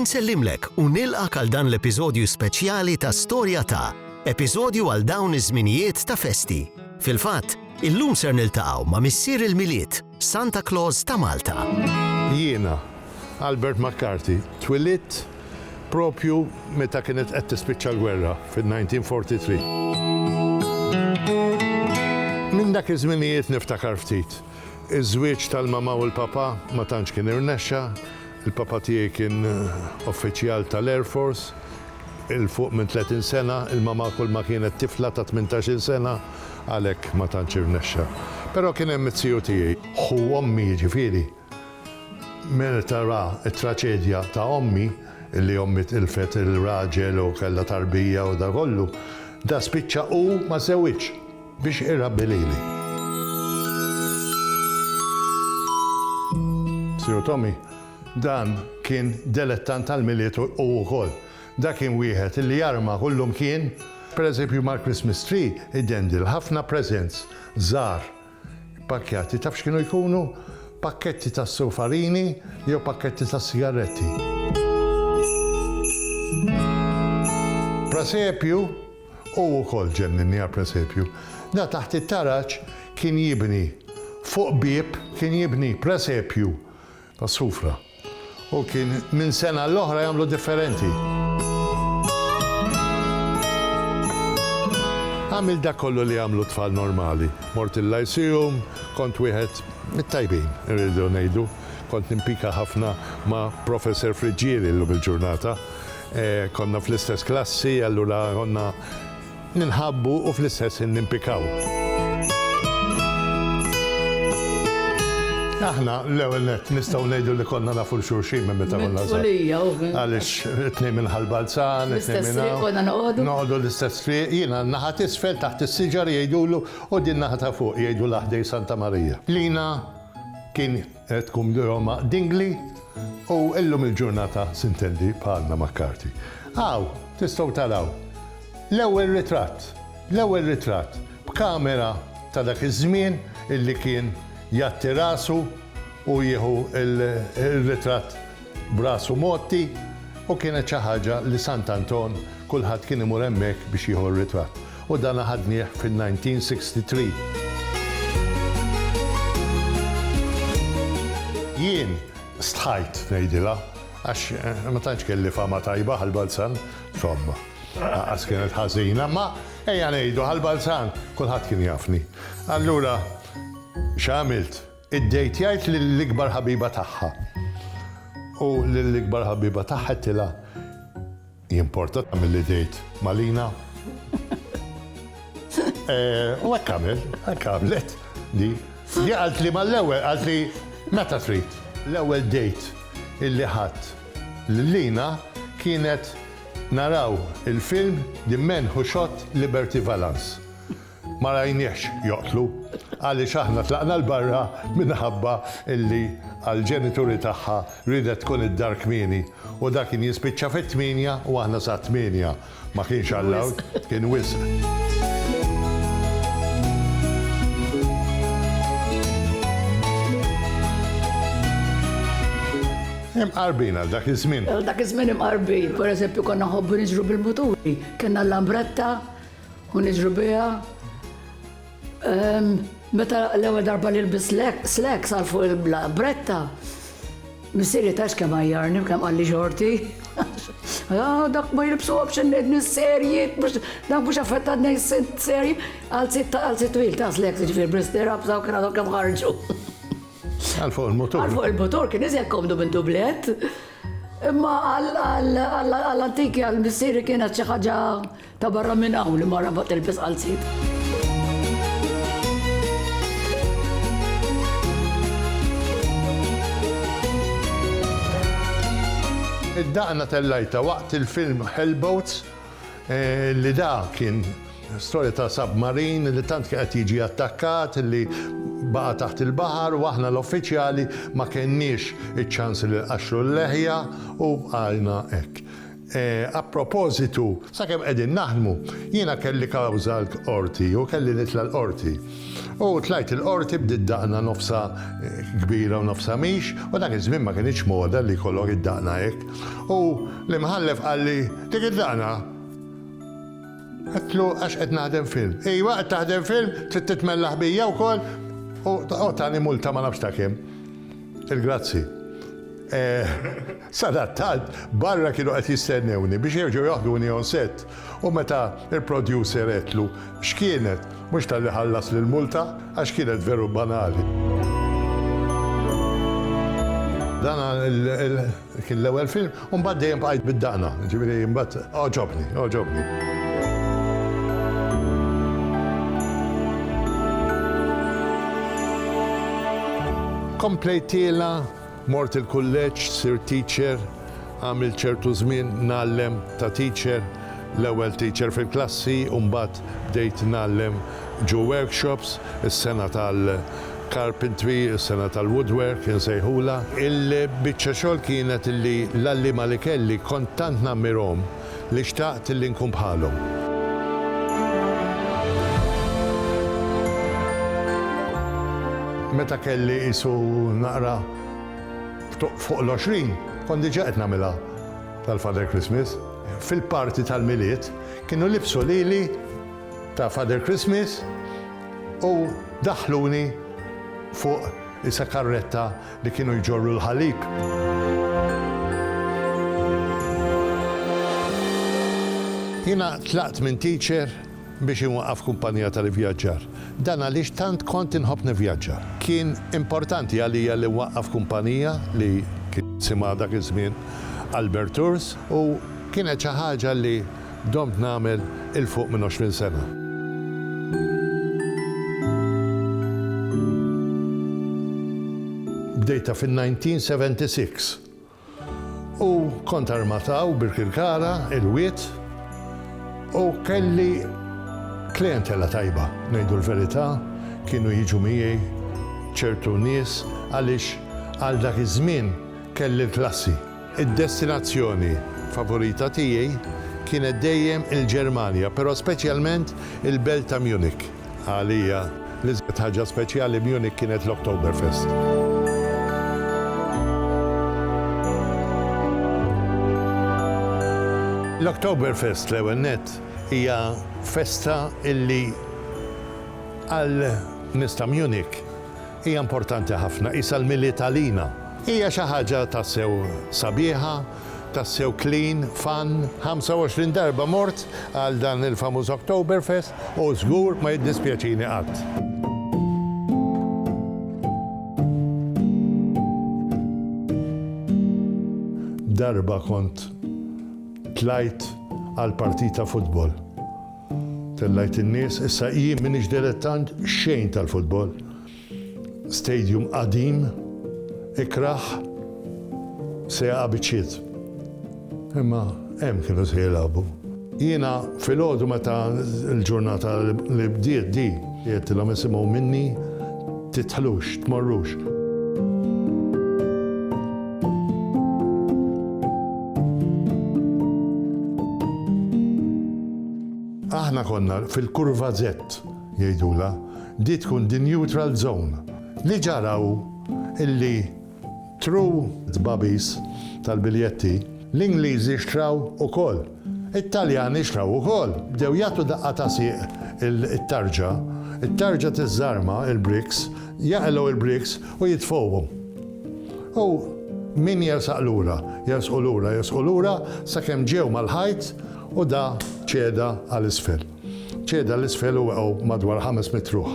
Insellimlek u nilqak għal dan l-episodju speċjali ta' Storja ta' episodju għal dawn iż-żminijiet ta' festi. Fil-fatt, illum ser niltaqgħu ma' missier il-Milied, Santa Claus ta' Malta. Jiena, Albert McCarthy, twilit proprju meta kienet qed tispiċċa l-gwerra fin-1943. Minn dak iż-żminijiet niftakar ftit. Iż-żwieġ tal-mamà u l-papà ma tantx kien irnexxa. Il-papà tiegħi kien uffiċjal tal-Air Force 'il fuq minn tletin sena, il-mamà kulma kienet tifla ta' tmintax-il sena, għalhekk ma tantx irnexxa. Però kien hemm it-tiju tiegħi, ħu ommi jiġifieri, Meta ra t-traċedja ta' ommi, li ommi tilfet ir-raġel u kellha tarbija u da kollu, da spiċċa hu ma żewwiġx biex irabbi lili. Sir Tommy, dan kien delettant tal-Milied hu wkoll. Da kien wieħed li jarma kullumkien. Per eżempju mal-Christmas tree idendil ħafna presents żgħar. Ippakkjati, taf x'kienu jkunu? Pakketti ta' sufarini jew pakketti ta' sigaretti. Presepju, hu wkoll ġenninni għall-presepju. Da taħt it-taraġ kien jibni, fuq bieb kien jibni presepju. Għas-sufra. U kien minn sena għal oħra jagħmlu differenti. Għamilt dak kollu li jagħmlu t-tfal normali. Mort il-Lyceum, kont wieħed mit-tajbin, irridu ngħidu. Kont nimpika ħafna ma' Professor Friggieri llum il-ġurnata. Konna fl-istess klassi, allura konna. Ninħabbu u fl-istess ħin nimpikaw. Aħna l-ewwel nett nistgħu ngħidu li konna nafu l xulxin minn meta konna żgħar. Għaliex it-tnejn minn Ħal Balzan, it-tnejn minn hawn. Noqogħdu l-istess triq, jiena n-naħa t'isfel taħt is-siġar jgħidulu u din naħa ta' fuq jgħidulha ħdejn Santa Marija. Lina kien Tqum Roma dingli u llum il-ġurnata tintendi bħalna McCarthy. Hawn tistgħu taraw l-ewwel ritratt, l-ewwel ritratt b'kamera ta' dak iż-żmien illi kien jgħatti rasu u jieħu r-ritratt b'rasu mgħotti u kienet xi ħaġa li Sant'Anton kulħadd kien imur hemmhekk biex jieħu r-ritratt. u dan aħadnieh fin-1963. Jien stħajt ngħidilha għax ma tantx kelli fama tajba ħall-Balzan, insomma, lanqas kienet ħażina, imma ejja ngħidu ħall-Balzan kulħadd kien jafni. Allura x'għamilt? Iddejtjajt lill-ikbar ħabiba tagħha u lill-ikbar ħabiba tagħha għedtilha, Hi importata mill-ideat Malina. U hekk għamel, hekk għamlet di. Di qaltli mal-ewwel qaltli meta trid. L-ewwel date illi ħadt lil Lina kienet naraw il-film The Men Who Shot Liberty Valance. Ma rajniehx joqtlu għaliex aħna tlaqna 'l barra minħabba illi għal ġenituri tagħha riedet tkun id-dar kmieni u dak kien jispiċċa fit-tmienja u aħna sat-tmienja ma kienx allowed, kien wisq. Imqarbin għal dak iż-żmien. Għal dak iż-żmien imqarbin. Per eżempju konna nħobbu niġru bil-muturi, kellna l-lambretta, U niġru biha ehm, meta l-ewwel darba li lbis slacks għal fuq il-bretta, missieri tax kemm għajjarni kemm qalli xorti. Ah, dak ma jilbsu option nejt mis-serji, dak mux affettat nejt serji, għal sitt għal sitt twil ta' slek, ġifir bristera, bżaw kena dok ħarġu. Għal fuq il-motor. Għal fuq il-motor, kien iżjed komdu minn dublet. Imma għall-antiki għall-missiri kienet xi ħaġa Ta' barra minn hawn li mara ma tilbes qalziet. Id-daqna tellajtha waqt il-film Hellboats li da kien storja ta' submarine li tant kien qed jiġi attakkat li baqa' taħt il-baħar u aħna l-uffiċjali ma kenniex iċ-ċans li nqaxxru l-leħja u bqajna hekk. A propositu, sakemm qegħdin naħdmu, jiena kelli kawża l-Qorti u kelli nitla' l-Qorti. U tlajt il-Qorti bdiet daqna nofsha kbira u nofsha mhix, u dak iż-żmien ma kinitx moda li jkollok id-daqna hekk. U l-Imħallef qalli, Dik id-daqna? Għedtlu, Għax qed naħdem film. Ejwa, qed taħdem film, trid titmella ħbija wkoll? U tani multa ma nafx ta' kemm. Il-grazzi. Sadattant, barra kienu qed jistennewni biex jerġgħu jaħduni on set u meta l-producer għedtlu x'kienet, mhux talli ħallasli l-multa, għax kienet veru banali. Dan Kien l-ewwel film u mbagħad dejjem bqajt bid-daqna, jiġifieri mbagħad għoġobni, għoġobni. Komplejtiela, mort il-kulleġġ, sir teacher, għamil ċertu żmien nallem ta' teacher, l-ewwel teacher fil-klassi, u mbagħad bdejt nallem ġu workshops, is-sena tal Carpentry, is-sena tal-woodwork insejħulha. Il-biċċa xogħol kienet illi l-għalliema li kelli kont tant nammirhom li xtaqt illi nkun bħalhom. Meta kelli qisu naqra fuq l-għoxrin kont diġà qed nagħmilha tal-Father Christmas. Fil-party tal-Milied kienu libsu lili ta' Father Christmas. U daħħluni fuq is-sakarretta li kienu jġorru l-ħalib. Jiena tlaqt minn teacher biex inwaqqaf kumpanija tal-ivvjaġġar. Dan għaliex tant kont inħobb nivvjaġġar. Kien importanti għalija li nwaqqaf kumpanija li kien isimha dak iż-żmien Albert Tours u kienet xi ħaġa li domt nagħmel 'il fuq minn għoxrin sena. Bdejtha fin-1976 u kont armat hawn Birkirkara, il-Wied, u kelli klientela tajba, ngħidu l-verità, kienu jiġu miegħi ċertu nies għaliex għal dak iż-żmien kelli l-klassi. Id-destinazzjoni favorita tiegħi kienet dejjem il-Ġermanja, però speċjalment il-belt ta' Munich. Għalija, l-iżjed ħaġa speċjali b'Munich kienet l-Oktoberfest. L-Oktoberfest, l-ewwel nett, hija festa li għal nies ta' Munich Hija importanti ħafna, qisha l-Milied għalina. Hija xi ħaġa tassew sabiħa, tassew clean, fun. 25 darba mort għal dan il-famuż Oktoberfest u żgur ma jiddispjaċini qatt. Darba kont tlajt għal partita futbol. Tellajt in-nies, issa jien m'iniex dilettant xejn tal-futbol. Stadium qadim, ikrah, se jaqa' biċċiet. Imma hemm kienu se jilagħbu. Jiena filgħodu meta l-ġurnata li bdiet di, għedtilhom isimgħu minni Tidħlux, tmorrux. Aħna konna fil-kurva Z, jgħidula, di tkun di neutral zone. Li ġaraw illi Tru tbagħbis tal-biljetti, l-Ingliżi xtraw ukoll. It-Taljani xtraw ukoll. Bdew jagħtu daqqa ta' sieq it-tarġa. It-tarġa tiżżarma l-bricks, jaqilgħu l-bricks u jitfgħuhom. U min jersaq lura? Jersqu lura, jersqu lura sakemm ġew mal-ħajt u da ċeda għal isfel. Ċeda 'l isfel u weqgħu madwar ħames mitt ruħ.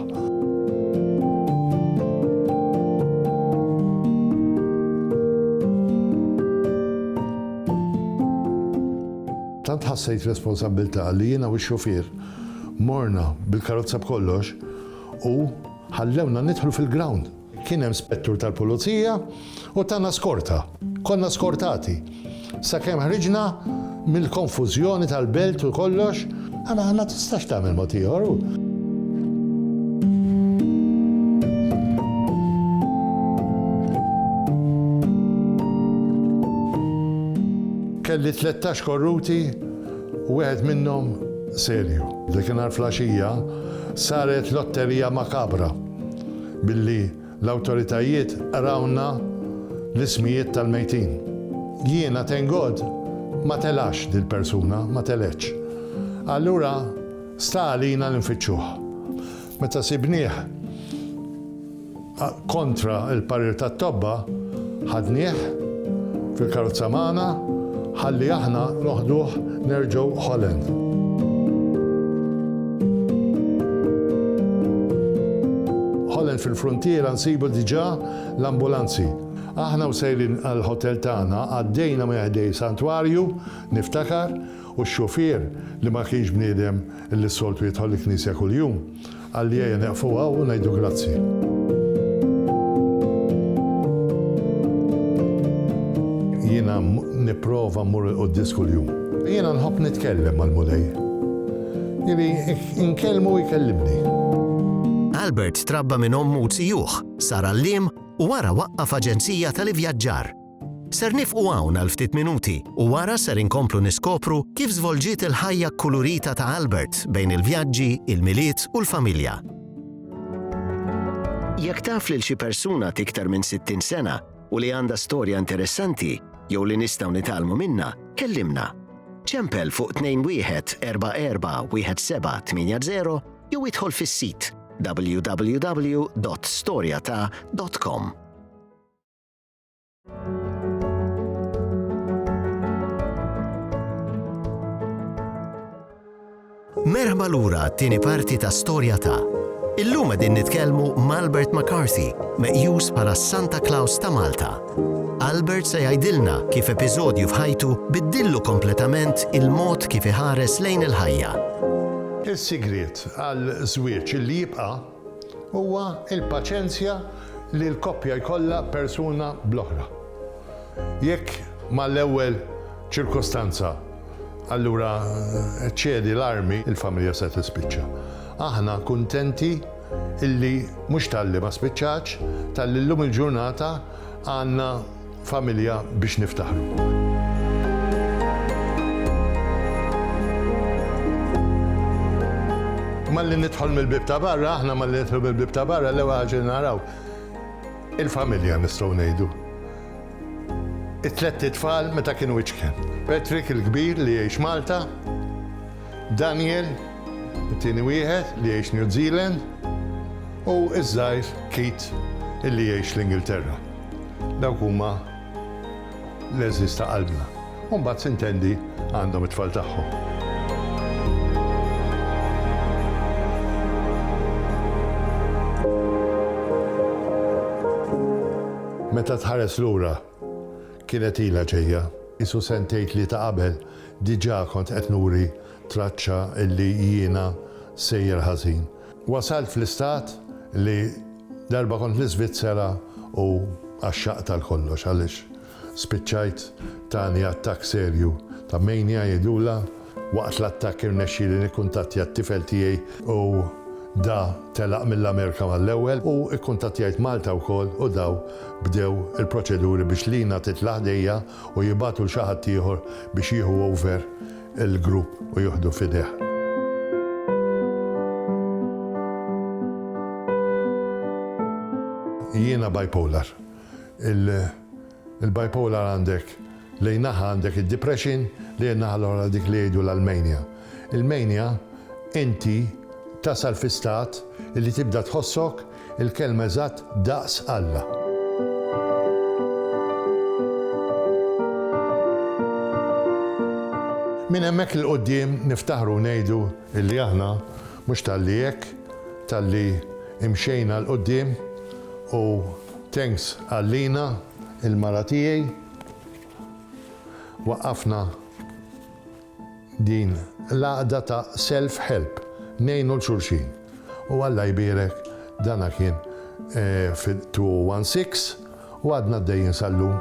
Tant ħassejt responsabbiltà li jiena u x-xufier morna bil-karozza b'kollox u ħallewna nidħlu fil-ground. Kien hemm spettur tal-pulizija u tana skorta. Konna skortati. Sakemm ħriġna mill-konfużjoni tal-belt u kollox. Ara ma tistax tagħmel mod ieħor. Kelli tlettax korruti u wieħed minnhom serju. Dik in-nhar flaxija saret lotterija makabra. Billi l-awtoritajiet qrawlna l-ismijiet tal-mejtin. Jiena, thank God, ma telax dil-persuna, ma telgħetx. Allura sta għalina li nfittxuh. Meta sibnieh kontra l-parir tat-tobba, Ħadnieh fil-karozza magħna ħalli aħna noħduh nerġgħu Holland. Holland fil-fruntiera nsibu diġà l-ambulanzi. Aħna u sejrin għall-ħotel tagħna għaddejna minn ħdej santwarju, niftakar, u x-xufier li ma kienx bniedem li s-soltu jidħol il-knisja kuljum. Għalliejja neqfu hawn u ngħidu grazzi. Jiena nipprova mmur 'il quddies kuljum. Jiena nħobb nitkellem mal-Mulej. Jieli nkellmu u jkellimni. Albert trabba minn ommu u zijuh, sar għalliem u wara waqqaf aġenzija tal-ivjaġġar. Ser nifqu hawn għal ftit minuti u wara ser inkomplu niskopru kif żvolġiet il-ħajja kkulurita ta' Albert bejn il-vjaġġi, il-Milied u l-familja. Jekk taf lil xi persuna t'iktar minn 60 sena u li għandha storja interessanti jew li nistgħu nitgħallmu minnha, kellimna. Ċempel fuq 21441780 jew idħol fis-sit www.storjata.com. Merħba lura t-tieni parti ta' storja ta' Illum din nitkellmu Malbert McCarthy, meqjus bħala Santa Claus ta' Malta. Albert se jgħidilna kif episodju f'ħajtu biddillu kompletament il-mod kif iħares lejn il-ħajja. Is-sigriet għal żwieġ li jibqa' huwa l-paċenzja li l-koppja jkollha persuna bl-oħra. Jekk mal-ewwel ċirkostanza allura ċċedi l-armi, il-familja se tispiċċa. Aħna kuntenti illi mhux talli ma spiċċatx, talli llum il-ġurnata għandna Familja biex niftaħru. Malli nidħol mill-bib ta' barra, aħna malli nidħol mill-bib ta' barra, l-ewwel ħaġa naraw il-familja nistgħu ngħidu. It-tlet tfal meta kienu iċken. Patrick il-kbir li jgħix Malta, Daniel, it-tieni wieħed li jgħix New Zealand, u iż-żgħir Kit illi jgħix l-Ingilterra. Dawk huma l-għeżież ta' qalbna. U mbagħad sintendi għandhom it-tfal tagħhom. Meta tħares lura, kienet ilha ġejja. Qisu sentejn tlieta qabel diġà kont qed nuri traċċa li jiena sejjer ħażin. Wasalt fl-istat li darba kont l-Iżvizzera u għaxxaqt għal kollox għaliex spiċċajt tani attakk serju ta' mania jgħidulha. Waqt l-attakk irnexxieli nikkuntattja t-tifel tiegħi u da telaq mill-Amerika mal-ewwel u kkuntattjajt Malta wkoll u daw bdew il-proċeduri biex Lina titla' ħdejja u jibagħtu 'l xi ħadd ieħor biex jieħu over il-grupp u jieħdu f'idejh. Jiena bipolar. Il-bipolar għandek lejn naħa għandek id-depression, lejn naħa l-oħra dik li jgħidulha l-mania. Il-mania inti tasal fi stat li tibda tħossok Il-kelma eżatt daqs Alla. Minn hemmhekk 'il quddiem niftaħru u ngħidu illi aħna mhux talli hekk, talli imxejna 'l quddiem u thanks għal Lina, il-mara tiegħi, waqqafna Din l-għaqda ta' self help, ngħinu 'l xulxin. U Alla jbierek dana kien fit-2016 u għadna għaddejjin sal-lum.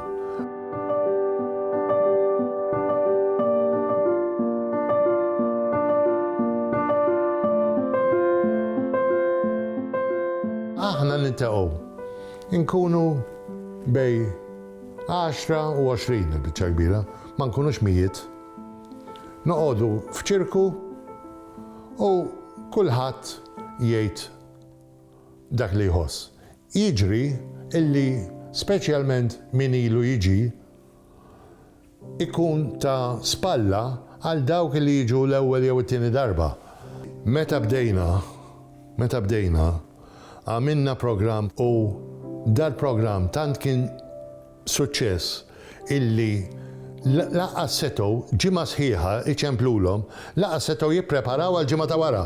Aħna niltaqgħu, inkunu bejn għaxra u għoxrin il-biċċa l-kbira, ma nkunux mijiet. Noqogħdu f'ċirku u kulħadd jgħid dak li jħoss. Jiġri illi speċjalment min ilu jiġi ikun ta' spalla għal dawk li jiġu l-ewwel jew it-tieni darba. Meta bdejna, meta bdejna, għamilna programm u dal-programm tant kien Suċċess illi lanqas setgħu, ġimgħa sħiħa, iċemplulhom, lanqas setgħu jippreparaw għall-ġimgħa ta' wara,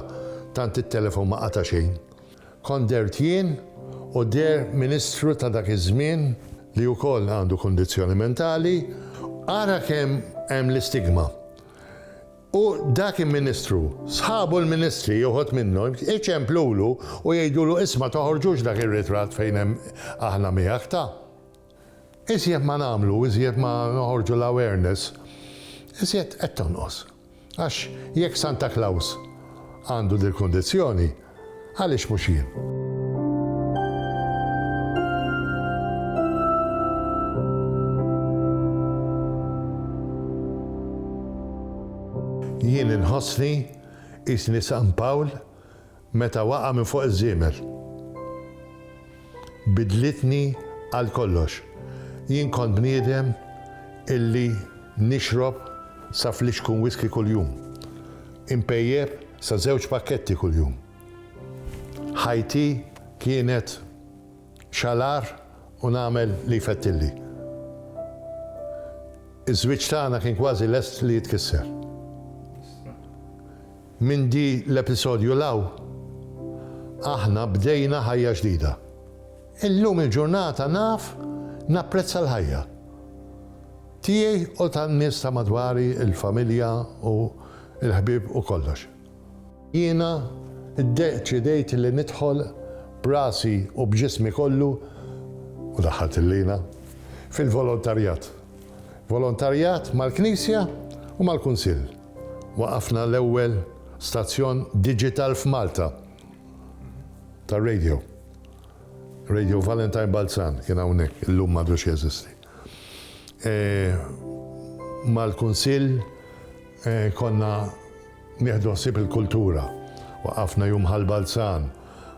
tant it-telefon ma qata' xejn. Kont dehrt jien u deher Ministru ta' dak iż-żmien li wkoll għandu kundizzjoni mentali, ara kemm hemm l-istigma. U dak il-Ministru, sħabu l-Ministri, uħud minnhom, iċemplulu u jgħidulu isma' toħorġux dak ir-ritratt fejn hemm aħna miegħek ta'. Iżjed ma nagħmlu, iżjed ma noħorġu l-awareness, iżjed qed tonqos. Għax jekk Santa Claus għandu dil-kundizzjoni, għaliex mhux jien? Jien inħossni qisni San Pawl Meta waqa' minn fuq iż-żiemel. Biddlitni għal kollox. Jien kont bniedem illi nixrob sa flixkun whiskey kuljum. Inpejjep sa żewġ pakketti kuljum. Ħajti kienet xalar u nagħmel li jfettilli. Iż-żwieġ tagħna kien kważi lest li jitkisser. Minn di l-episodju 'l hawn, aħna bdejna ħajja ġdida. Illum il-ġurnata naf napprezza l-ħajja. Tiegħi u tan-nies ta' madwari, il-familja u l-ħbieb u kollox. Jiena ddeċidejt li nidħol b'rasi u b'ġismi kollu, u daħħalt il-lina, fil-volontarjat. Volontarjat mal-Knisja u mal-Kunsill. waqqafna l-ewwel stazzjon diġital f'Malta tar-radio. Radio Valentine Balzan kien hawnhekk, illum m'għadux jeżisti. Mal-Kunsill konna nieħdu ħsieb il-kultura. Waqqafna Jum Ħal Balzan,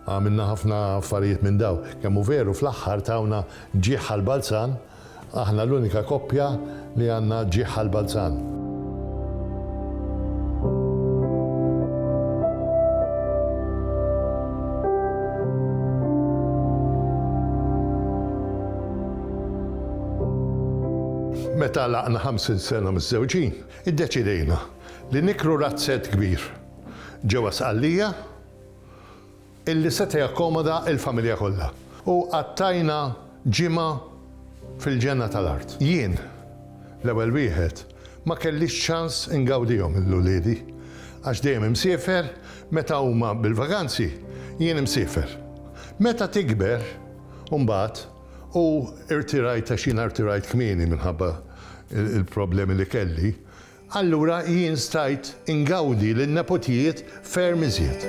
għamilna ħafna affarijiet minn dawn. Kemm hu veru fl-aħħar tawna ġieħ Ħal Balzan, Aħna l-unika koppja li għandna ġieħ għall-Balzan. Meta għalaqna 50 sena miżżewġin, iddeċidejna li nikru razzett kbir ġewwa Sqallija illi seta' jakkomoda l-familja kollha, u qattajna ġimgħa fil-ġenna tal-art. Jien, l-ewwel wieħed, ma kellix ċans ingawdihom lil uliedi, għax dejjem imsiefer, meta huma bil-vaganzi, jien imsiefer. Meta tikber, imbagħad, u rtirajt għax jiena rtirajt kmieni minħabba l-problemi li kelli, Allura jien stajt ingawdi lin-nepotijiet ferm iżjed.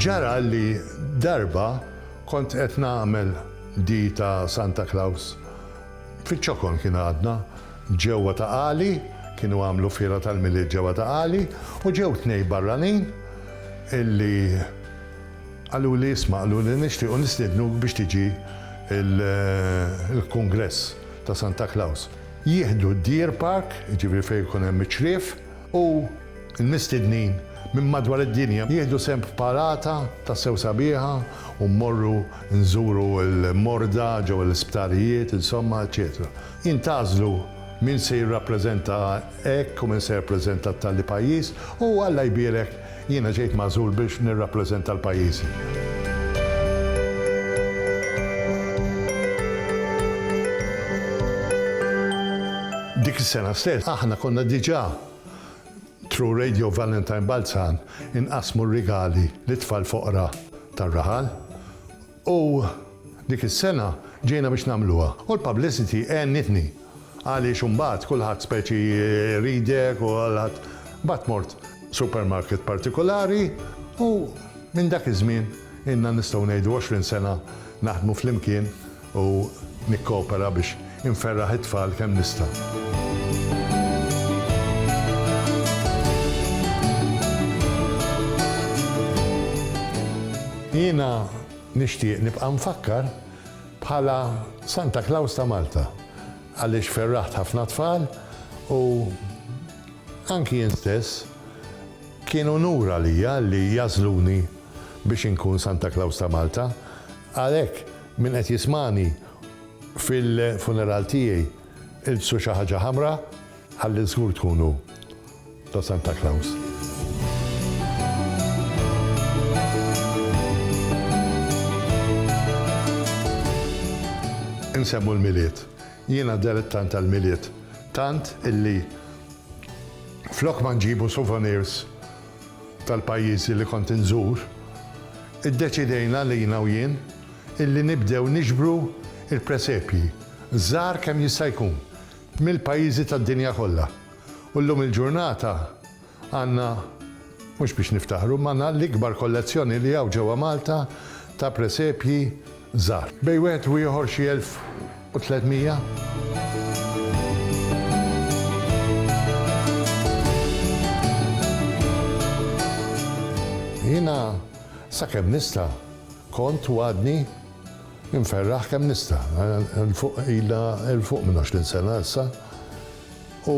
Ġara li darba kont qed nagħmel di ta' Santa Claus, fiċ-ċokon kien għadna, Ġewwa ta' Qali, kienu għamlu fiera tal-Milied ġewwa ta' Qali u ġew tnej barranin illi qaluli isma' qaluli nixtiequ nistiednuk biex tiġi l-kungress ta' Santa Klaws. Jieħdu d-Deer Park, jiġifieri fejn ikun hemm iċ-ċriev, u l-mistednin minn madwar id-dinja jieħdu sehem f'parata tassew sabiħa u mmorru nżuru l-morda ġewwa l-isptarijiet, insomma, eċċetera. Jintgħażlu min se jirrappreżenta hekk u min se jirrappreżenta t-talli pajjiż u, Alla jbierek, jiena ġejt magħżul biex nirrappreżenta l-pajjiżi. Dik is-sena stess aħna konna diġà, through Radio Valentine Balzan, inqassmu r-rigali lit-tfal foqra tar-raħal. U dik is-sena ġejna biex nagħmluha. U l-publicity għenitni. Għaliex imbagħad kulħadd speċi jridek u kulħadd. Imbagħad mort supermarket partikulari u minn dak iż-żmien ilna nistgħu ngħidu għoxrin sena naħdmu flimkien u nikkoopera biex Inferraħ it-tfal kemm nista'. Jiena nixtieq nibqa' mfakkar bħala Santa Klaws ta' Malta għaliex ferraħt ħafna tfal u anki jien stess kien unur għalija li jagħżluni biex inkun Santa Klaws ta' Malta. Għalhekk min qed jismagħni Fil-funeral tiegħi ilbsu xi ħaġa ħamra ħalli żgur tkunu ta' Santa Claus. Insemmu l-Milied. Jiena dilettant tal-Milied tant illi flok ma nġibu souvenirs tal-pajjiżi li kont inżur, iddeċidejna lina u jien illi nibdew niġbru l-presepji, żgħar kemm jista' jkun, mill-pajjiżi tad-dinja kollha. U llum il-ġurnata għandna, mhux biex niftaħru, imma għandna l-ikbar kollezzjoni li hawn ġewwa Malta ta' presepji żgħar. Bejn wieħed u ieħor xi elf u tliet mija. Jiena sakemm nista'. Kont, u għadni, inferraħ kemm nista'. Ilha 'l fuq minn għoxrin sena issa u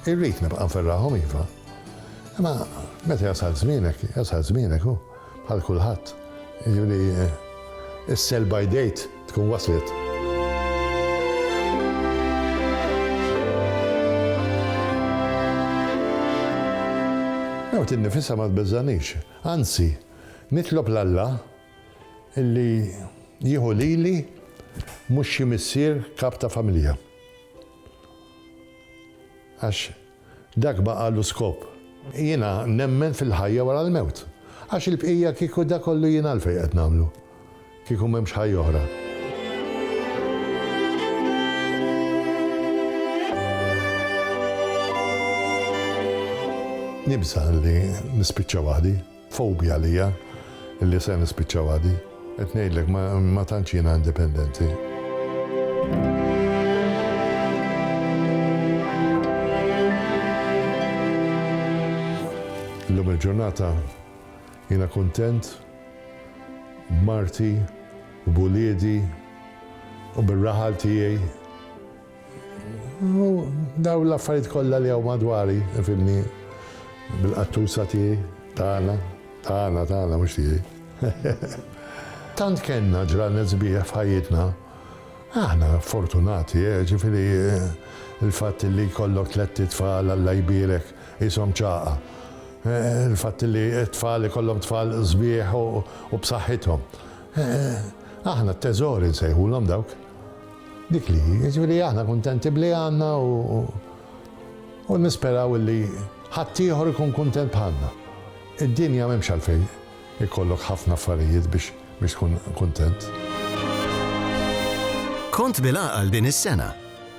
irrid nibqa' nferraħhom iva. Imma meta jasal żmienek, jasal żmienek u, bħal kulħadd, jiġifieri s-sell by date tkun waslet. Mewt innifisha ma tbeżżagħnix, anzi, Nitlob 'l Alla illi jieħu lili mhux xi missier kap ta' familja. Għax dak baqa' lu skop. Jiena nemmen fil-ħajja wara l-mewt. Għax il-bqija kieku dak kollu jiena għalfejn qed nagħmlu? Kieku m'hemmx ħajja oħra. Nibża' li nispiċċa waħdi. Fobja għalija li se nispiċċawha di. Qed ngħidlek ma tantx jiena indipendenti. Illum il-ġurnata jiena kuntent b'marti u b'uliedi u bir-raħal tiegħi. U daw l-affarijiet kollha li hawn madwari, fimni, bil-qattusa tiegħi, tagħna, tagħna, tagħna, mhux tiegħi. Tant kellna ġranet sbieħ f'ħajjitna. Aħna fortunati, eh, ġifieri l-fatt li jkollok tlett itfal Alla jbierek qishom ċagħqa. Il-fatt li t-tfal ikollhom tfal sbieħ u b'saħħithom. Aħna t-teżori nsejħulhom dawk. Dik li hi, jiġifieri aħna kuntenti b'li għandna u nisperaw illi ħaddieħor ikun kuntent bħalna. Id-dinja m'hemmx għalfejn ikollok ħafna affarijiet biex tkun kuntent. Kont bil-għaqal din is-sena.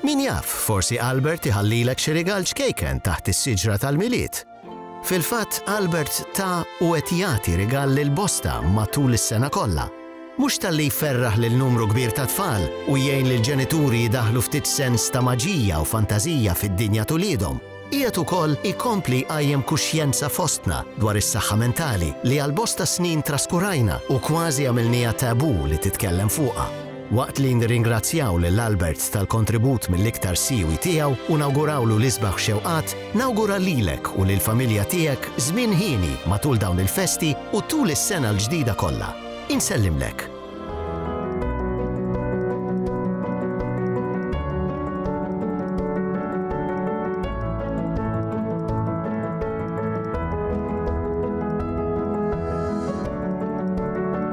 Min jaf, forsi Albert iħallilek xi rigal ċkejken taħt is-siġra tal-Milied! Fil-fatt, Albert ta u qed jagħti rigal lil bosta matul is-sena kollha. Mhux talli jferraħ lil numru kbir ta' tfal u jgħin lill-ġenituri jdaħħlu ftit sens ta' maġija u fantażija fid-dinja t'uliedhom, qiegħed ukoll ikompli jqajjem kuxjenza fostna dwar is-saħħa mentali li għal bosta snin traskurajna u kważi għamilniha taboo li titkellem fuqha. Waqt li nirringrazzjaw lil Albert tal-kontribut mill-iktar siwi tiegħu u nawgurawlu l-isbaħ xewqat, nawgura lilek u lill-familja tiegħek żmien hieni matul dawn il-festi u tul is-sena l-ġdida kollha. Insellimlek.